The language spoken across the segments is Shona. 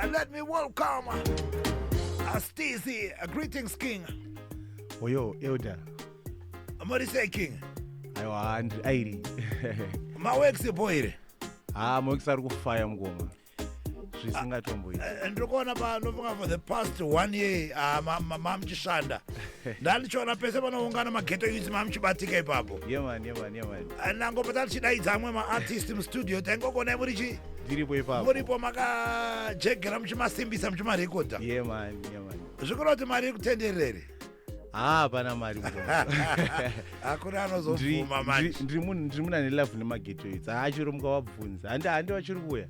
And let me welcome Astizi, a greetings king. Oyo elder. Amari say king. Ayo and airi. Mawex boy. Ah, mawex ari kufaya mgoma. zvisingatomboiti eh, eh, ndirikuona panofunga for the past one year ah, mamuchishanda ndandichiona pese panoungana mageto yuzi mamuchibatika ipapo yeman yeman yeman nangobva tatichidaidza amwe maartist mustudio taingokuonai muri chii ndiripo ipapo muripo makajegera muchimasimbisa muchimarekodha ye mani ye mani zvikura kuti mari iri kutenderera here haa hapana mari hakuna anozobvuma manje ndiri munhu ndiri munhu ane love nemagetoits haa chero mukavabvunza handi handi vachiri kuuya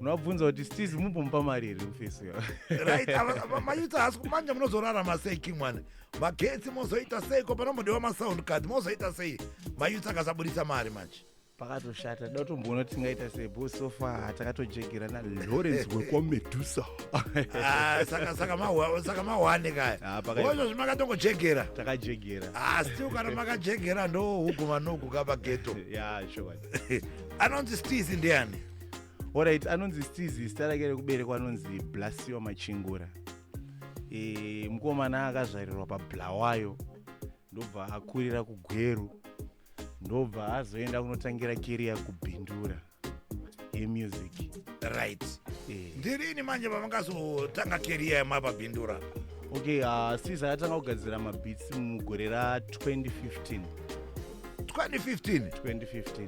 unovabvunza kuti stis mumbomupa mari here kufesiyo right mayuti hasi manje munozorarama sei king mwana magetsi mozoita sei ko panombodiwa masound card mozoita sei mayuts akasaburitsa mari manje pakatoshata da kutomboona kuti tingaita sei bo so far takatojegerana lawrence wekwamedusa Ah, saka saka mahwa- saka mahwane kaya Ah, pakaita. oizvo zvimakatongojegera takajegera Ah, still kana makajegera ndo huku vanoku kapa geto ya sure anonzi stizi ndiani orit anonzi stizi zita rake rekuberekwa anonzi blasio machingura e, mukomana akazvarirwa pablawayo ndobva akurira kugweru ndobva azoenda kunotangira keriya kubindura yemusic right e. ndirini manje pamakazotanga keriya yemapabindura okay uh, ah, sis akatanga kugadzira mabits mugore ra 2015 2015 2015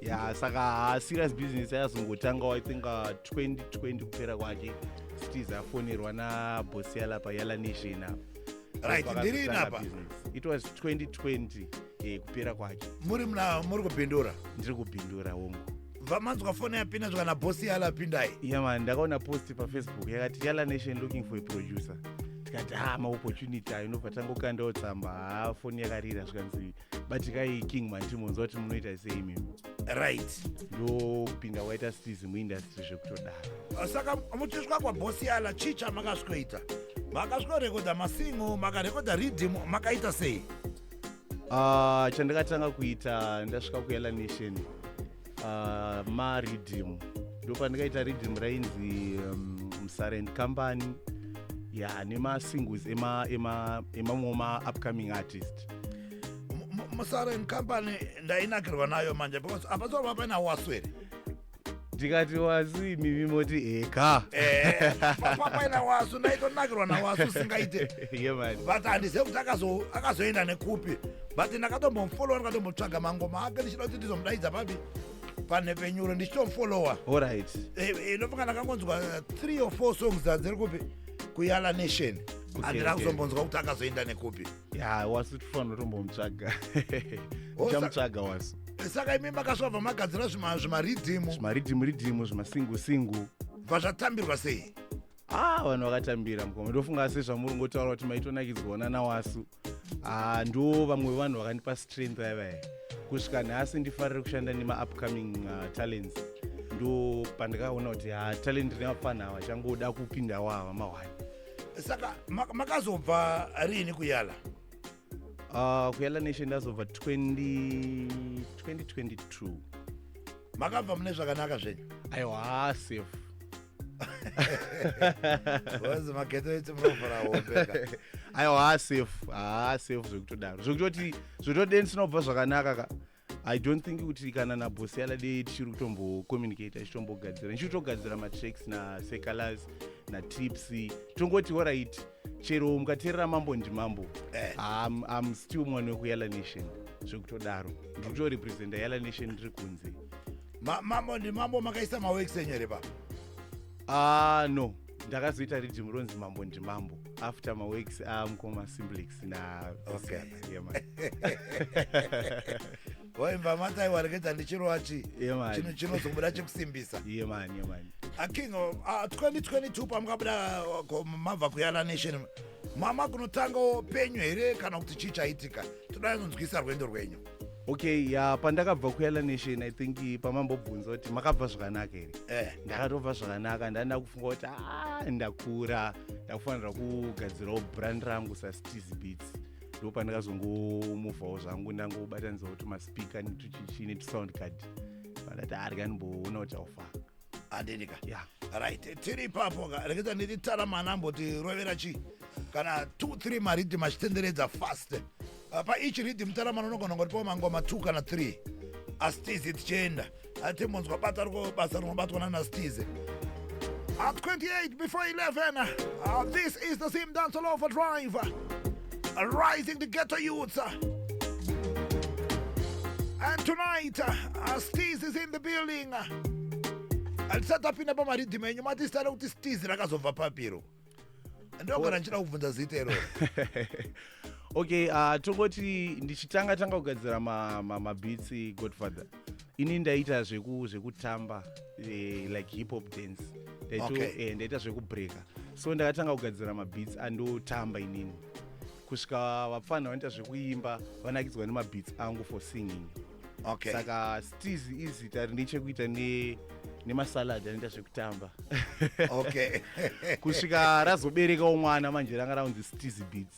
ya saka haserious business ayazongotangawo i think 2020 uh, kupera kwake stis afonerwa nabhosi yalapa yala nation apa right ndiri inapa it was 2020 eh, kupera kwake muri mna muri kubhindura ndiri kubhindura hongu vamanzwa fone yapinda zvika nabhosi yala apindai ya mani ndakaona post pafacebook yakati yala nation looking for a producer tikati ha ah, maopportunity ayo nobva tangokandawo tsamba ha ah, foni yakarira zvikanzi batikai king manti munzwa kuti munoita sei imimi right ndopinda waita stizi muindastry zvekutodara ah, saka muchisvika kwabosi yala chii chamakasvikoita makasvikorekodha masingo makarekodha riddim makaita sei uh, chandakatanga kuita ndasvika kuyala nation uh, maridhim ndopandikaita ridhim rainzi um, msarend company ya yeah, nemasingles emamwe ema, ema, maupcoming artist musarend company ndainakirwa nayo manje because apasova paina waswere ndikati wasu imimi moti eka eh, papaina wasu ndaitonakirwa nawasu singaite but handizive kuti akazoenda nekupi but ndakatombomufollowa ndikatombotsvaga mangoma ake ndichida kuti ndizomudaidza papi panhepenyuro ndichitomufollowa orit eh, eh, inofunga ndakangonzwa three or four songs dzadziri kupi kuyala nation andina kuzombonzwa kuti akazoenda nekupi ya wasi tifanira tombomutsvaga tichamutsvaga wasi saka imi makasvabva magadzira zvimaridhimu zvimaridhimu ridhimu zvimasingu singu bva zvatambirwa sei ah vanhu vakatambira mukoma ndofunga asi zvamuri ngotaura kuti maitonakidzwa ona nawasu ah ndo vamwe vanhu vakandipa strength yavaye kusvika nhasi ndifarire kushanda nemaupcoming uh, talents ndo pandakaona kuti ha ah, talent revapfanha ava changoda kupindawo ava mahwani saka makazobva riini kuyala Uh, kuyala nation ndazobva 2022 makabva mune zvakanaka zvenyu aiwa ah, safe ozi mageto eiti munovhura hombeka aiwa ah, safe haa safe zvekutodaro zvekutoti zvekutoti deni sinobva zvakanaka ka i don't think kuti kana nabhosi aladei tichiri kutombocommunicate achitombogadzira ndichiri kutogadzira matracks nasecalas natips tongoti orit chero mukateerera mambo ndimambo eh. am, am still mwana wekuyala nation zvekutodaro ndiri kutorepresenta yala nation ndiri kunze mambo ndimambo makaisa mawex enyere pa ah no ndakazoita riddim ronzi mambo ndimambo after maweeks amukoma ah, simblix na waimba mata iwareketa ndichirova chi chino chinozobuda chekusimbisa iye mani iye mani aking ah, 2022 ah, pamukabuda mabva kuyala nation mama kunotangawo penyu here kana kuti chii chaitika toda kunzwisa rwendo rwenyu okay ya pandakabva kuyala nation i think pamambobvunza kuti makabva zvakanaka here eh. ndakatobva zvakanaka ndanda kufunga kuti ah, ndakura ndakufanira kugadzirawo brand rangu sasteez beats ndo pandakazongomuvhawo zvangu ndangobatanidzawo tumaspika netuchichi netusound card pandati arya ndimboona kuti aufaa handini ka yeah. right tiri ipapo ka reketa nditi tara mana amboti rovera chii kana 2 3 maridhim achitenderedza fast uh, pa each ridhim tara mana unogona kungoti pao mangoma 2 kana 3 astizi tichienda atimbonzwa bata riko basa rinobatwa nanastizi At 28 before 11, uh, this is the Zim Dance All Over Drive. Rising the ghetto youths. And tonight, uh, Steez is in the building. Alisati apinda pamaridhima enyu mati zita rekuti Steez rakazobva papiro. Ndogona ndichida kubvunza zita iroro. okay uh, tongoti ndichitanga tanga kugadzira mabitsi ma, ma godfather ini ndaita zveku zvekutamba eh, like hip hop dance ndaito Okay. eh, ndaita zvekubreaker so ndakatanga kugadzira mabeats andotamba inini kusvika vapfanha vanoita zvekuimba vanakidzwa nemabeats angu for singing okay saka stiz izita rine chekuita ne nemasalad anoita zvekutamba okay kusvika razoberekawo mwana manje ranga raunzi stiz beats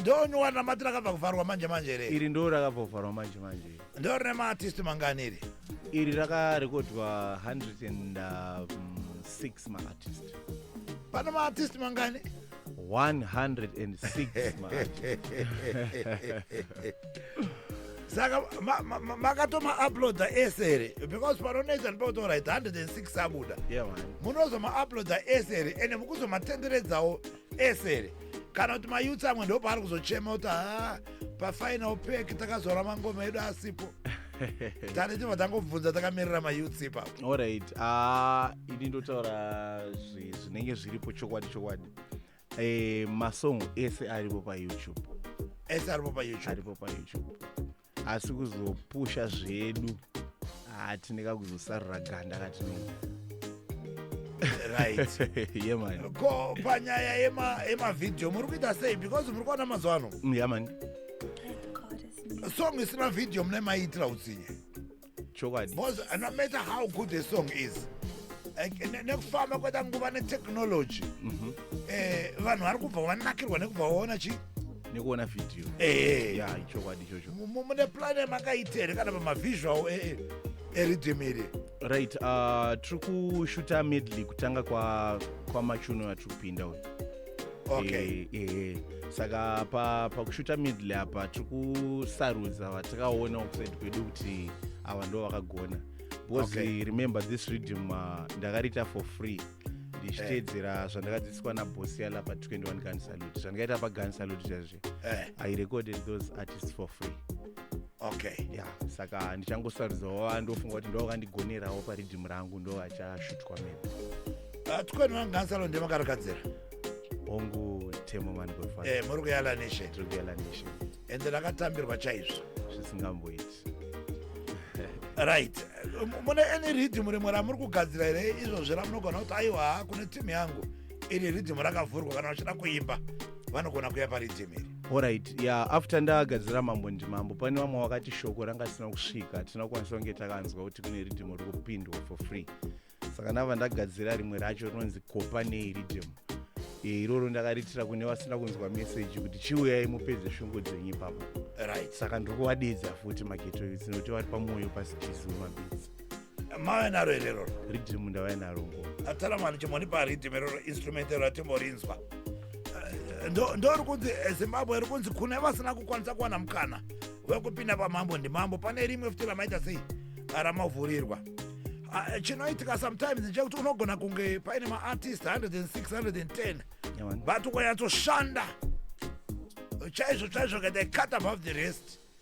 ndonyowa namatira akabva kuvharwa manje manje here iri ndo rakabva kuvharwa manje manje ndo rine maartist mangani iri iri rakarekodwa 106 um, maartist pane maartist mangani 106 maartist saka makatoma uploada ese here because panonetsa ndipakutaura it 106 abuda munozoma uploada ese here ende mukuzomatenderedzawo esere kana kuti mayutsi amwe ndo paari kuzochema kuti ha pafinal pack takazora mangoma edu asipo tane chibva tangobvunza takamirira mayutsi ipapo orit ah, ini ndotaura zvinenge zviripo chokwadi chokwadi eh, masong ese aripo payoutube ese aripo payoutube aripo payoutube asi kuzopusha zvedu hatineka kuzosarura ganda katinoo ko panyaya yemavideo muri kuita sei because muri kuona mazuva ano mm, song isina video mune maiitira utsinye chokwadi Because uh, no matter how good the song is, like, ne- nekufamba kweta nguva netechnology Mhm. eh, vanhu vari kubva vanakirwa nekubva vaona chi nekuona vhidhiyo Eh. ya chokwadi ichocho Mu- mu- mune plane makaita here kana pamavisual e- e- eriddim iri right uh, tiri kushuta medley kutanga kwa kwamachuno atiri kupinda uyu okay. e, e, saka pakushuta pa middle apa tiri kusarudza vatakaona kuside kwedu kuti ava ndo vakagona because okay. remember this reading uh, ndakariita for free ndichiteedzera eh. zvandakadzidziswa nabosi yala pa 21 gun salute zvandikaita pagun salute chazve eh. i recorded those artists for free okay ya saka ndichangosarudzawo vandofunga kuti ndovakandigonerawo paridhimu rangu ndovachashutwa mene ah, tkwani vangu gansalo ndemakarakadzira hongu temo manigwefa eh, muri kuyala nation tiri kuyala nation ende rakatambirwa chaizvo zvisingamboiti right mune any ridhimu rimwe ramuri kugadzira here izvozvi ramunogona kuti aiwa kune timu yangu iri ridhimu rakavhurwa kana vachida kuimba vanogona kuya paridhimu iri Alright, yeah, after ndagadzira mambo ndimambo pane vamwe wakati shoko ranga risina kusvika hatina kukwanisa kunge takanzwa kuti kune riddim ri kupindwa for free saka ndava ndagadzira rimwe racho rinonzi kopa nei riddim eh, iroro ndakariitira kune vasina kunzwa meseji kuti chiuyai mupedze shungu dzenyu ipapo right. saka ndiri kuvadeedza futi maketo yutsi nokuti vari pamwoyo pasitizi wemabidzi mave naro here roro ridhimu ndavai naro ngo atara mwana chimonipa ridhimu iroro instrument iro atimborinzwa eh, ndori kunzi eh, zimbabwe iri kunzi kune vasina kukwanisa kuwana mukana wekupinda pamambo ndimambo pane rimwe futi ramaita sei ramavhurirwa ah, eh, chinoitika sometimes ndechekuti unogona kunge paine maartist 106 110 but ukanyatsoshanda chaizvo chaizvo ka they cut above the rest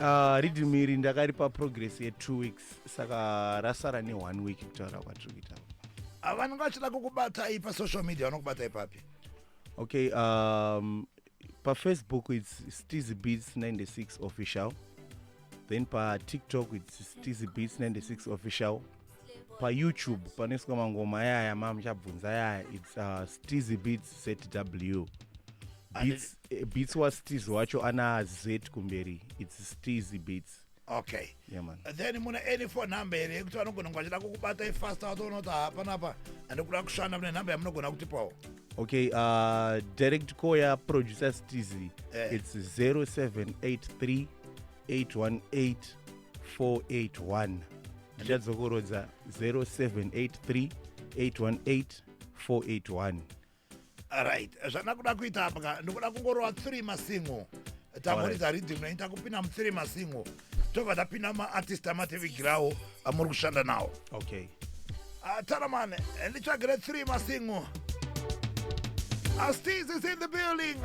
Uh, riddim iri ndakaripa progress yetwo weeks saka rasara neone week kutaura kwatiri kuita ah, vanenge vachida kukubatai pasocial media vanokubatai papi okay um, pafacebook its steasy beats 96 official then patiktok its steasy beats 96 official payoutube panoiswa mangoma yaya mamuchabvunza yaya its uh, steasy beats zw beats Eh, beats wa steez wacho ana z kumberi its steezy beats okay yeah, man. then mune any phone number here yekuti vanogona kunge vachida kukubata ifasta watoona kuti hapanapa handikuda kushanda mune number yamunogona kutipawo okay uh, direct call ya producer steez yeah. its 0783 818 481 ndichadzokorodza 0783 818 481 right zvanakuda kuita apa ka ndikuda kungorova three masingo tamuridza riddim naita kupinda muthree masingo tobva tapinda maartist amatevigirawo amuri kushanda nawo okay ah, taramane nditsvagire three masingo Astiz is in the building.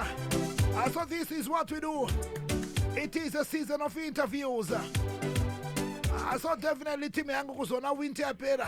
Uh, so this is what we do. It is a season of interviews. Uh, so definitely team yangu kuzona winter yapera.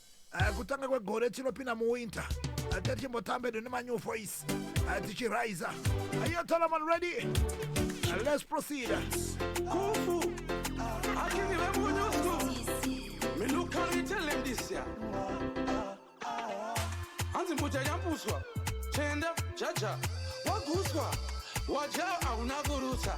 uh, kutanga kwegore tinopinda muwinter tatichimbotambe uh, done manew voice uh, tichiraiza uh, ayo talaman ready uh, let's proceed kufu uh, akini vemunyusu me no carry tell him this ya hanzi mbuja yambuswa chenda jaja waguswa waja hauna kurutsa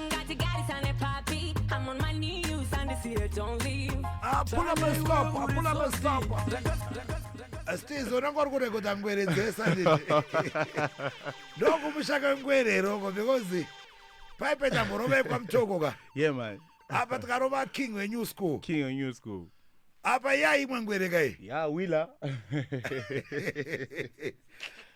apula maskop apula maskop stiz unenge uri kurekodha ngwere dzese ndokumushaka ngwere iroko because paipeta murovekwa mutoko ka yeah man apa tikarova king wenew school king wenew school apa yaimwe ngwere kai ya wila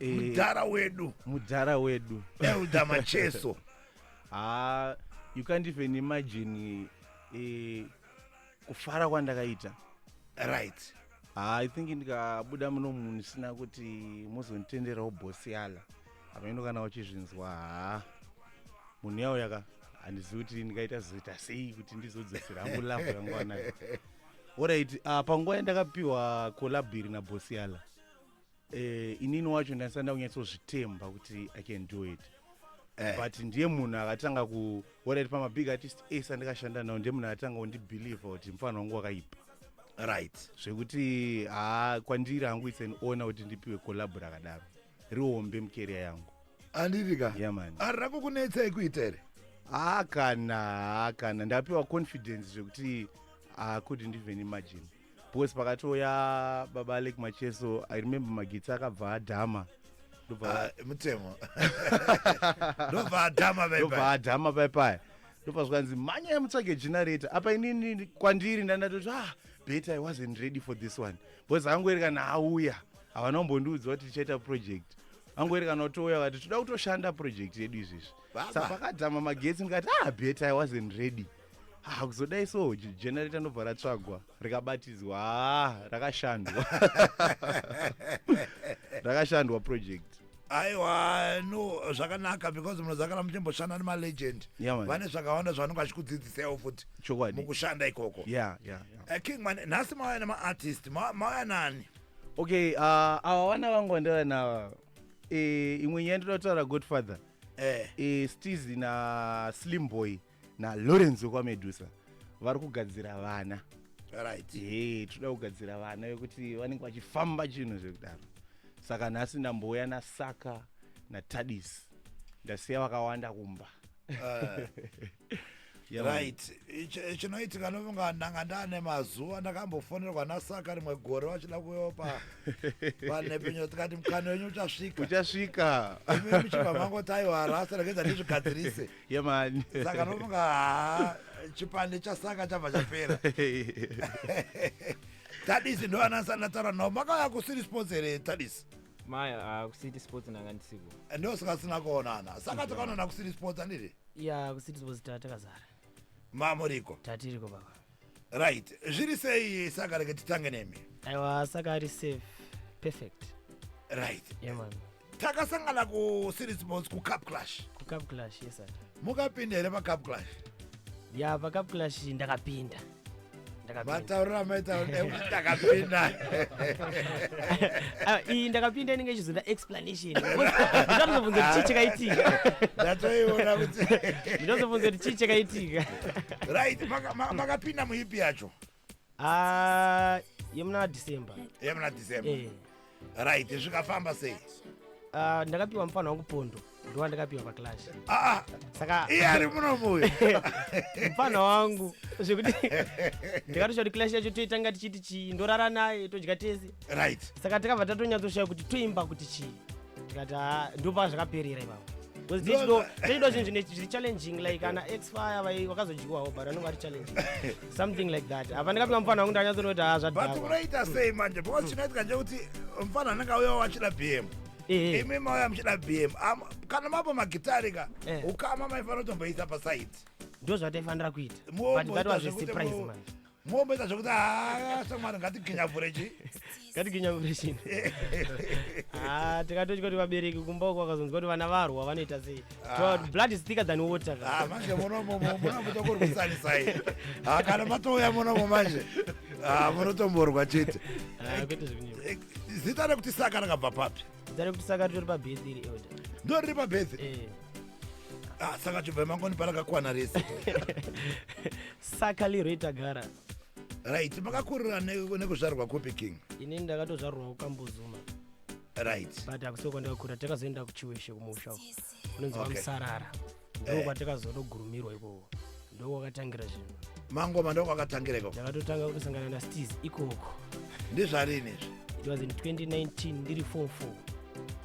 Eh, mudhara wedu mudhara wedu elder macheso ha you can't even imagine eh, kufara kwandakaita right ha i think ndikabuda muno munhu ndisina kuti mozonditenderawo bosi yala hameno kana uchizvinzwa ha munhu yawo yaka handizivi kuti ndikaita zoita sei kuti ndizodzosera hangu lavo yangu anayo orit uh, ah, panguva yandakapiwa kolabhiri nabosi yala eh, inini wacho ndaisati ndakunyatsozvitemba kuti i can do it eh. but ndiye munhu akatanga kuorit pamabig artist ese andikashanda nawo ndiye munhu akatanga kundibelieve kuti mufana wangu wakaipa right zvekuti haa kwandiri hangu its an ona kuti ndipiwe collabo rakadaro rihombe mukeria yangu anditi ka yeah, man ari rako kunetsa ikuita here haa kana haa kana ndapiwa confidence zvekuti i couldn't even imagine because pakatouya baba alek macheso i remember magitsi akabva adhama ah, mutemo ndobva adhama ndobva adhama paipaya ndobva zvikanzi mhanya mutsvage generator apa inini kwandiri ndandatoti ah bet i wasn't ready for this one because angoerekana auya havana kumbondiudza kuti tichaita project angoerekana kutouya vati toda kutoshanda project yedu izvizvi sa pakadhama magetsi ndikati ah bet i wasn't ready Ah, kuzodai so generator ndobva ratsvagwa rikabatidzwa ah, rakashandwa rakashandwa project aiwa no zvakanaka because munozakana muchimboshanda nemalegend Yeah, man. vane zvakawanda zvavanenge vachikudzidzisawo futi Chokwadi. mukushanda ikoko yeah, yeah, yeah. Eh, king man nhasi mauya nemaartist ma- mauya nani okay uh, awa vana vangu vandava nava e, imwe nyaya ndoda kutaura godfather Eh. e, stizi naslim boy nalawrence wekwamedusa vari kugadzira vana right hey, toda kugadzira vana vekuti vanenge vachifamba chinhu zvekudaro saka nhasi ndambouya nasaka natadis ndasiya vakawanda kumba uh. right chinoitika nonga ndanga ndane mazuva ndakambofonerwa nasaka rimwe gore vachida kuyopa vanhepinyo tikati mukana wenyu uchasvika uchasvika imi muchibva mangoti aiwa rasa rekedza ndizvigadzirise Yeah, man. saka nofunga haa chipande chasaka chabva chapera tadisi ndo anasana taura navo makauya kusiri sports here tadisi maya uh, kucity sports ndanga ndisiko ndo sikasina kuonana saka takaonana kusiri sports anditi ya kucity sports ta- takazara mamuriko tatiriko baba right zviri sei saka reke titange nemi aiwa saka ari safe perfect right yeah man takasangana kuseries sports kucup clash kucup clash yes sir mukapinda here pacup clash ya pacup clash ndakapinda mataurira maitaura kuti ndakapinda iyi ndakapinda inenge ichizonda explanation ndinozobvunza kuti chii chakaitika ndatoiona kuti ndinozobvunza kuti chii chakaitika right maka- ma- makapinda muipi yacho Ah, yemuna december yemuna december Eh, right zvikafamba sei ah, ndakapiwa mufana wangu pondo ndowandakapiwa paclash ah, ah. saka iye ari muno muyo mupfanha wangu zvekuti ndikatosha kuti clash yacho toitanga tichiti chii ndorara naye todya tese right saka takabva tatonyatsoshayo kuti toimba kuti chii tikati haa ndopaa zvakaperera ivavo taido zvinhu zvine zviri challenging like ana expire vai vakazodyiwawo but anonga ari challenging something like that apa ndikapinga mufana wangu ndanyatsoona kuti haa zvadbut unoita sei manje because chinoitika nje kuti mufana anenge auya wachida bm Eh. imi mauya muchida bm Am- kana mapa magitari ka Eh. ukama maifanira kutomboisa pasaidi ndo zvataifanira kuita but that was a surprise manje momboita zvekuti haa shamwari ngatiginyavhure chi ngatiginyavureshini ah tikatotya kuti vabereki kumba uko vakazonzwa kuti vana varwa vanoita sei To- blood is thicker than water ka. Ah, manje munomo munomuta kurwisanisai Ah, kana matouya munomo manje Ah, munotomborwa chete Ah, kwete zvekunyepa. zita rekuti saka rakabva papi zita rekuti saka ritori pabhedhi iri elder ndo riri pabhedhi eh. ah, saka chibva emangoni parakakwana rese saka liroita gara right makakurira nekuzvarwa kupi king inini ndakatozvarwa kukambozuma right but akusoko ndakakurira takazoenda kuchiweshe kumusha unonzi vamusarara okay. ndoo eh. kwatakazotogurumirwa ikoko ndoo kwakatangira zvinhu mangoma ndoo kwakatangira ikoko ndakatotanga kutosangana nastis ikoko ndizvarini izvi it was in 2019 ndiri form four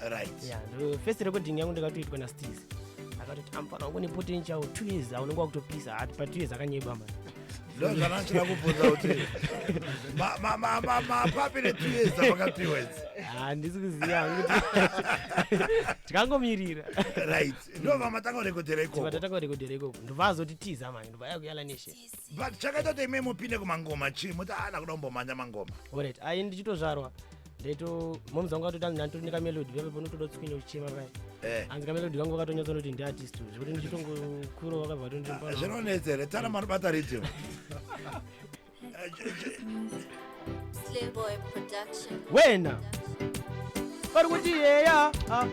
right yeah, first recording yangu ndakatoitwa nastis akatoti amfana wangu nepotential two years aunenge wakutopisa ati pa two years akanyeba mani ndozvanachira kubvunza kuti mapapi ne two years apakapiwa idzi handisi kuziva tikangomirira right ndovamatanga kurekodhera ikokovatanga kurekodhera ikoko ndovazoti tiza mani ndovaya kuyala neshe but chakaita kuti ime mupinde kumangoma chii muti ana kuda kumbomhanya mangoma oret ayi ndichitozvarwa ndaito moms wangu atoti anzi ndanditori nekamelodi vave panotoda kutswinya uchichema paya eh. anzi kamelodi kangu katonyatsa noti ndiartist zvekuti ndichitongokurova kabva tonzvinonetsa here tana manobata ridhio Slayboy Production. wena vari kuti yeya ah,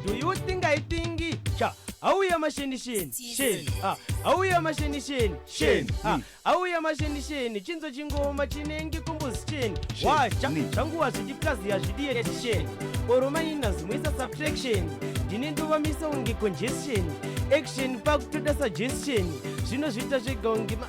do you think i think sha auya mashenisheni sheni ah, auya mashenisheni sheni ah, auya mashenisheni chinzo chingoma chinenge kombozi cheni washa zvanguva zvichikazi hazvidiyeti sheni oro maina zimwisa subtraction ndine ndovamisa unge congestion action pakutoda suggestion zvinozviita zvega unge ma-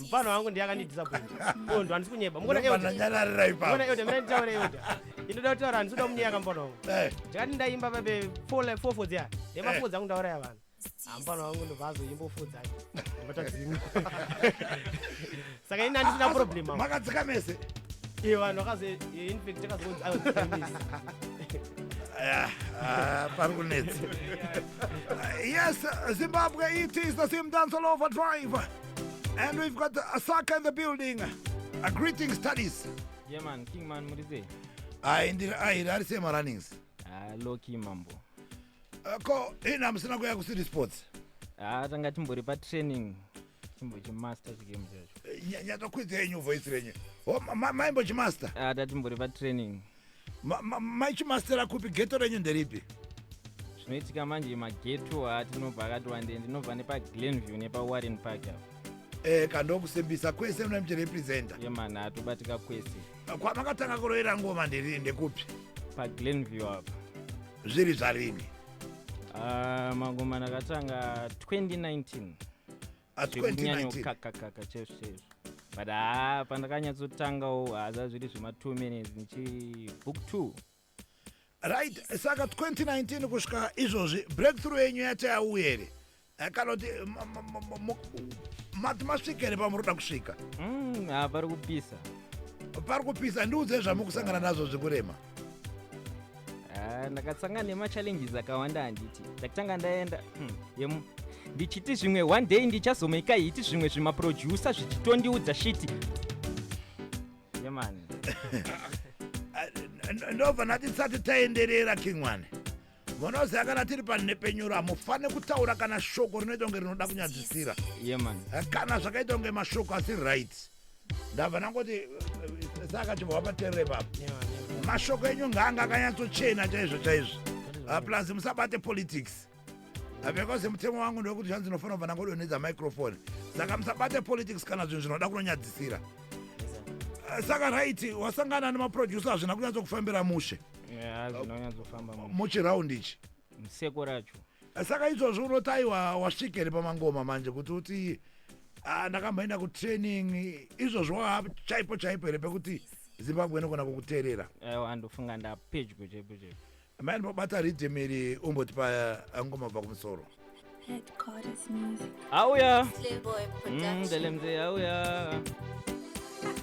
mfana wangu ndiye akandidisappoint ondo oh, handisi kunyeba mukona eodaeoda mira nditaura eoda inoda kutaura handisi kuda kunyeka mfana wangu eh. ndikati ndaimba pabe fofo dziya nemafo dzangu ndauraya vanhu hambana wangu ndobva azoimba fo dzake ndobatadzimwa saka ini handisina problem makadzika mese iye vanhu vakazoinfact akazonzi aoamis pari kunetsa Yes, Zimbabwe, it is the same dance all over drive. And we've got a sucker in the building. A greeting studies. Yeah man, King man Murize. Ayi ndiri ayi ari sema runnings. Ah, low key mambo. Uh, ko ina musina kuya ku city sports. Ah, tanga timbori pa training. Timbo chi master chi game chacho. Eh, Nyanya tokwidza yenyu voice renyu. Oh, ma- ma- maimbo chi master. Ah, tatimbori pa training. Ma- ma- mai chimastera kupi geto renyu nderipi zvinoitika manje mageto atinobva akati wande ndinobva nepaglenview nepawarren park apo eh kandokusimbisa kwese muna muchirepresenta yemani atobatika kwese kwamakatanga kuroera ngoma ndiri ndekupi paglenview apo zviri zvarini Ah, mangoma ndakatanga 2019 zvekunyanyokakakaka chaizvo chaizvo but haa pandakanyatsotangawo haza zviri zvema two minutes ndichibook two right saka 2019 kusvika izvozvi breakthrough yenyu yati yauye here eh, kana kuti mati masvika here pamuri kuda kusvika mm, pari kupisa pari kupisa ndiudze zvamukusangana nazvo zvekurema ah, ndakasangana nemachallenges akawanda handiti ndakutanga ndaenda hmm, ndichiti zvimwe one day ndichazomaika hiti zvimwe zvimaproducer zvichitondiudza shiti yemani ndobva ndati tisati taenderera kingwane vanoziva kana tiri panhepenyuro hamufane kutaura kana shoko rinoita kunge rinoda kunyadzisira yeah, eh, kana zvakaita kunge mashoko asi right ndabva nangoti eh, eh, saka chibva paterere papa mashoko enyu ngaanga akanyatsochena chaizvo chaizvo ah, plus musabate politics ah, because mutemo wangu ndewekuti zvanzi ndinofanira kubva nangodonedza microfone saka musabate politics kana zvinhu zvinoda kunonyadzisira saka right wasangana nemaproducer hazvina kunyatsokufambira mushe zvinonyatsofamba muchiraundi ichi museko racho saka izvozvi unoti aiwa wasvika here pamangoma manje kuti uti ah, ndakamboenda kutraining izvozvo waa chaipo chaipo here pekuti zimbabwe inogona kukuteerera aiwa andofunga ndapedyo chaipo chaipo maini pabata ridhim iri umbotipa eh, ngoma bva kumusoro auya mm, ndelemze auya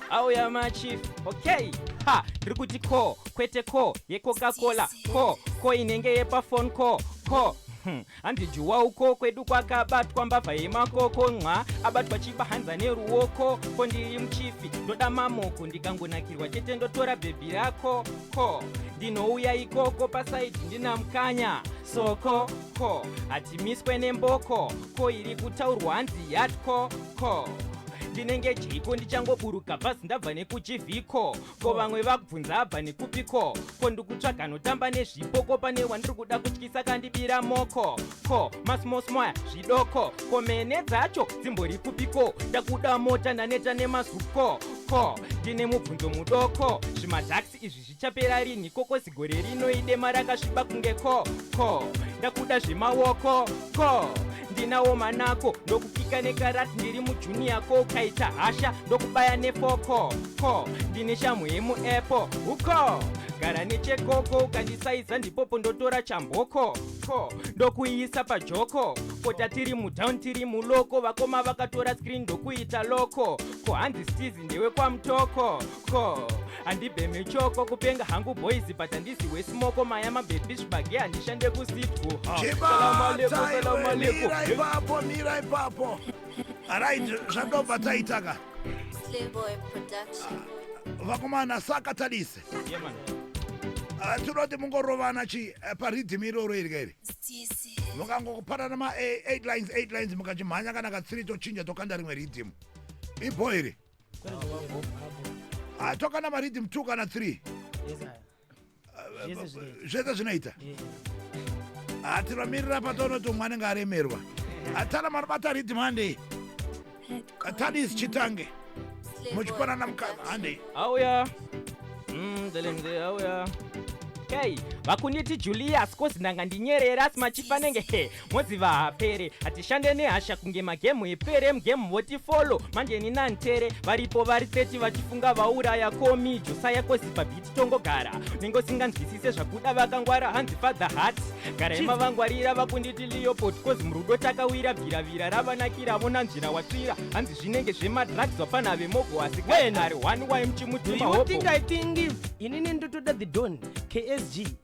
auya machief okay ha ndiri kuti ko kwete ko yecoca cola ko ko inenge yepafon ko ko Hmm. hanzi juwa uko kwedu kwakabatwa mbavha yemakoko nxa abatwa chibahanza neruoko ko ndiri muchifi ndoda mamoko ndikangonakirwa chete ndotora bhebhi rako ko ndinouya ikoko pasaidi ndina mukanya soko ko hatimiswe nemboko ko iri kutaurwa hanzi yatko ko ndinenge jiko ndichangoburuka bhazi ndabva nekuchivhiko ko vamwe vakubvunza abva nekupiko ko ndikutsvaga notamba nezvipo ko pane wandiri kuda kutyisa kandibira moko ko masmosmoya zvidoko ko mene dzacho dzimbori kupiko ndakuda mota ndaneta nemazuko ko ndine mubvunzo mudoko zvimataxi izvi zvichapera rinhi kokosi gore rino idema rakasviba kunge ko ko ndakuda zvemaoko ko ndinawo manako ndokupika nekarat ndiri mujuni yako ukaita hasha ndokubaya nefoko ko ndine shamhu yemuepo uko gara nechekoko ukandisaiza ndipopo ndotora chamboko ko ndokuiisa pajoko kota tiri mudown tiri muloko vakoma vakatora screen ndokuita loko ko hanzi stizi ndewekwamutoko ko handibheme choko kupenga hangu boys but handisi wesimoko maya mabhepi zvibage handishande kusitwo ipapo mira ipapo arit zvandobva taitaka vakomana saka tadise ah, tinoti mungorovana chi eh, paridhim iroro iri kairi mukangokupanana ma8 eh, lines 8 lines mukachimhanya kana katsiri tochinja tokanda rimwe ridhim ibho iri Ah, tokana mariddim two kana three zvese zvinoita ah, tinomirira patoonoti umwe anenge aremerwa atana ah, manobata riddim handei tadis chitange muchipanana mukana handei auya ndelemze mm, auya okay vakunditi julius kozi ndanga ndinyerera asi machifanenge he moziva hapere hatishande nehasha kunge magemu epere mgemu voti folo manje nina ntere varipo vari 30 vachifunga vauraya komi josaya koziva biti tongogara nenge usinganzwisise zvakuda vakangwara hanzi father hat gara imavangwarira vakunditi leopod kozi murudo takawira bviravira ravanakira vonanzvira watsvira hanzi zvinenge zvemadrugs vapana vemogo asi wenari one why mchimutima hopo inini ndotoda the don ksg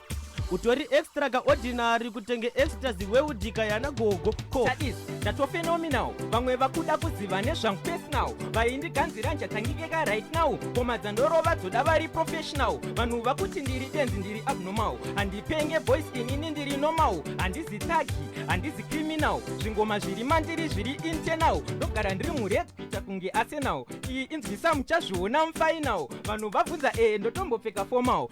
utori extra ka ordinary kutenge extra ziweudika yana gogo ko Sadis, ndatofenominal vamwe vakuda kuziva nezvangu personal vaindiganzira njatangikeka right now koma dzandorova dzoda vari professional vanhu vakuti ndiri benzi ndiri abnormal handipenge boys inini ndiri normal handizi tagi handizi criminal zvingoma zviri mandiri zviri internal ndogara ndiri mured kuita kunge arsenal iyi inzwisa muchazviona mufinal vanhu vabvunza ee ndotombopfeka formal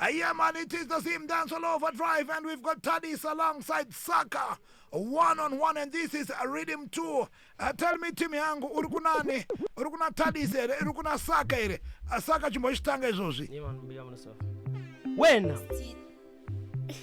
Uh, yeah, man, it is the same dance all over drive, and we've got Tadis alongside Saka one on one, and this is Rhythm 2. Uh, tell me, Timmy Angu, Urukunani, Urukuna Tadis, eh, Urukuna Saka, eh, uh, Saka Chimboshitanga Zozi. Wena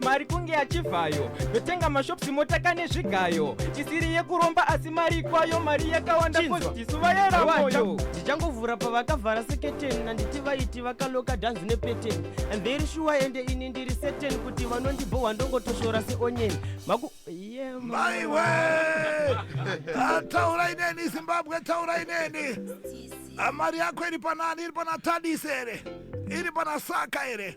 mari kunge achivhayo yotenga mashops motaka nezvigayo isiri yekuromba asi mari ikwayo mari yakawanda Chinzwa. postisu vayera moyo ndichangovhura pavakavhara seketeni nanditi vaiti vakaloka dhanzi nepeteni and very sure ende ini ndiri seteni kuti vanondibhohwa ndongotoshora seonyeni maku yeah, ma- maiwe Ah, taurai neni zimbabwe taurai neni Ah, mari yako iri panani iri pana tadise here iri pana saka here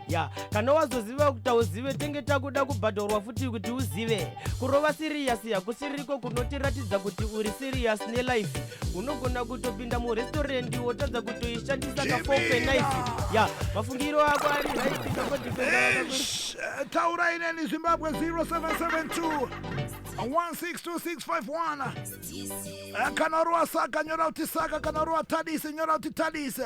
ya kana wazoziva kuti hauzive tenge takuda kubhadharwa futi kuti uzive kurova siriyasi hakusiriko kunotiratidza kuti uri siriyasi nelife unogona kutopinda murestorendi wotadza kutoishandisa kafopenaife ya mafungiro ako ari raitaurai neni zimbabwe 0772 162651 kana rova saka nyora kuti saka kana rova tadise nyora kuti tadise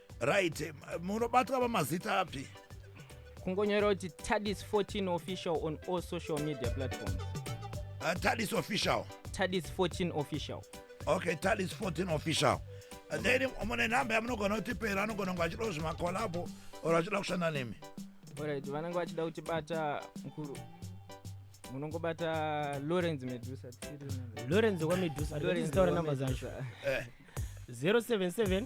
right munobatwa pamazita api kungonyora kuti tadis 14 official on all social media platforms uh, tadis official tadis 14 official okay tadis 14 official uh, then mune nhamba yamunogona kutipera anogona kunge achida zvimakolabo or achida kushanda nemi orit vanenge vachida kuti bata mukuru munongobata lawrence medusa lawrence kwamedusa ndizitaura number zacho 077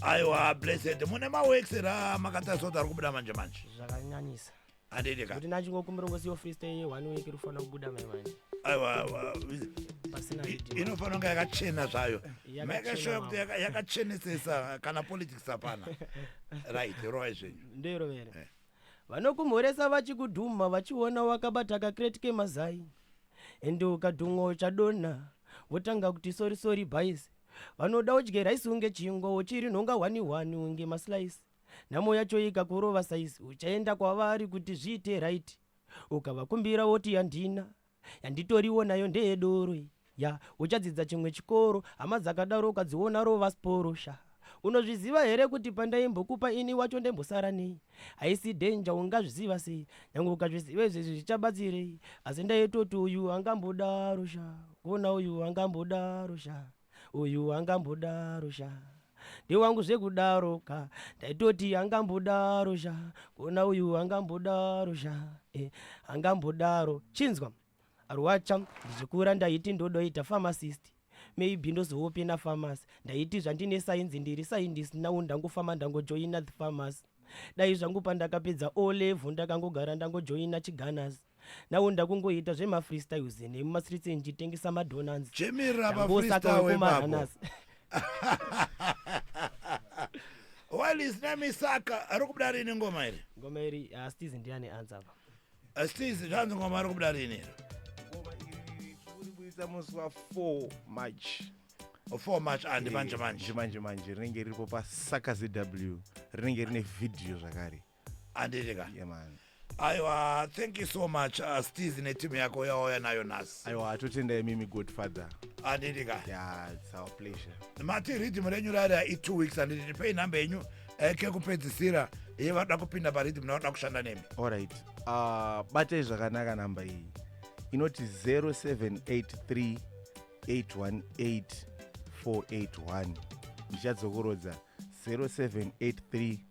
aiwa blessed mune maworks ra makatarisa kuti ari kubuda manje manje zvakanyanyisa handidi ka kuti nachingokumbira ngosiyo freestyle ye one week rifana kubuda mai manje aiwa aiwa pasina I- video. inofanira kunge yakachena zvayo Yakachena make sure kuti mambo. yaka- yakachenesesa kana politics hapana right roai zvenyu ndoirovere Eh. vanokumhoresa vachikudhumha vachiona wakabata kakreti kemazai ende ukadhumwa uchadonha votanga kuti sori sori bhaisi vanoda udye rice unge chingwa uchiri nhonga hwani hwani unge maslice nhamo yacho ikakurova size uchaenda kwavari kuti zviite right ukavakumbira woti yandina yanditoriwo nayo ndeyedoro iyi ya uchadzidza chimwe chikoro hama dzakadaro ukadziona rova sporo sha unozviziva here kuti pandaimbokupa ini wacho ndembosara nei haisi denja ungazviziva sei nyange ukazviziva izvezvi zvichabatsirei asi ndaitoti uyu angambodaro sha Kona uyu angambodaro sha uyu angambodaro sha ndewangu zvekudaro ka ndaitoti angambodaro sha kona uyu angambodaro sha eh, angambodaro chinzwa arwacha ndichikura ndaiti ndodoita pharmacist maybe ndozoope nafamasi ndaiti zvandine sainzi ndiri saindisi nawo ndangofamba ndangojoina the famasi dai zvangu pandakapedza o level ndakangogara ndangojoina chiganas nawo ndakungoita zvemafreestyles nemumastreets ndichitengesa madonans chemera mafreestyle wemako walis namisaka ari kubuda rini ngoma iri ngoma iri ah, stiz ndiye ane ansa apa ah, stiz zvanzi ngoma ari kubuda rini iri ngoma iri tikuburitsa musi wa 4 march 4 march andi ah, eh, manje manje manje manje rinenge riripo pasaka zw rinenge rine vhidhiyo zvakare handiti ka yeah, man aiwa thank you so much uh, stis neteam yako yawauya nayo nhasi aiwa atotenda imimi good father handiti ka yeah, it's our pleasure mati riddim renyu rarira i2 weeks handiti ndipei nhamba yenyu eh, kekupedzisira ye vada kupinda pariddim navada kushanda nemi allright uh, batai zvakanaka nhamba iyi inoti 0783 818 481 ndichadzokorodza 0783